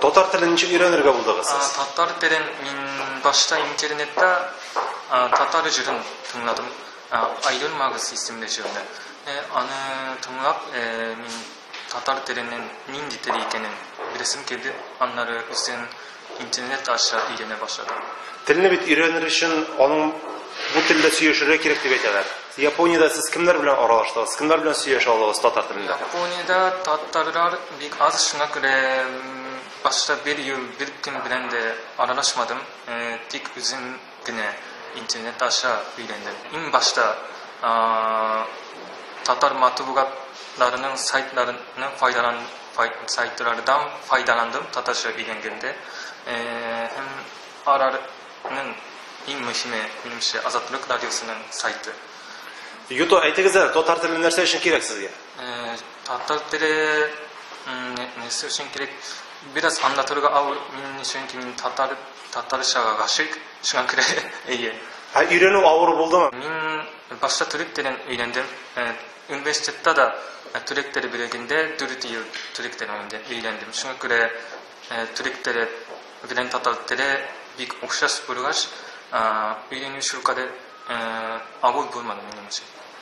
Татар телен ничек өйрәнергә булдыгыз сез? Татар телен мин башта интернетта татар җырын тыңладым. Айдын Магыз исемле җырны. Э, аны тыңлап, э, мин татар теленең нинди тел икәнен беләсем килде. Аннары үзем интернет аша өйрәнә башладым. Телне бит өйрәнер өчен аның бу телдә сөйләшергә кирәк дип әйтәләр. Япониядә сез кемнәр белән аралаштыгыз? Кемнәр белән сөйләшә алдыгыз татар телендә? Япониядә татарлар Бик аз, шуңа күрә башта бер ел, бер көн белән дә аралашмадым, тик үзем генә интернет аша өйрәндем. Иң башта татар матбугатларының сайтларының файдалан сайтлардан файдаландым татарча өйрәнгәндә. Һәм аларның иң мөһиме, минемчә, Азатлык радиосының сайты. Юту, әйтегез әле, татар теле нәрсә өчен кирәк сезгә? Татар теле нәрсә өчен кирәк? Бераз аңлатырга ау, мин чөнки мин татар, татарчага гашыйк, шуңа күрә әйе. Ә өйрәнү авыр булдымы? Мин башта төрек телен өйрәндем. Э, университетта да э, төрек теле бүлегендә 4 ел төрек телен өйрәндем. Шуңа күрә э, төрек теле белән татар теле бик охшаш булгач, өйрәнү шулкадәр авыр булмады минем өчен.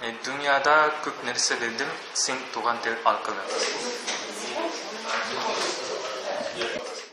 Дөньяда күп нәрсә белдем син туган тел аркылы.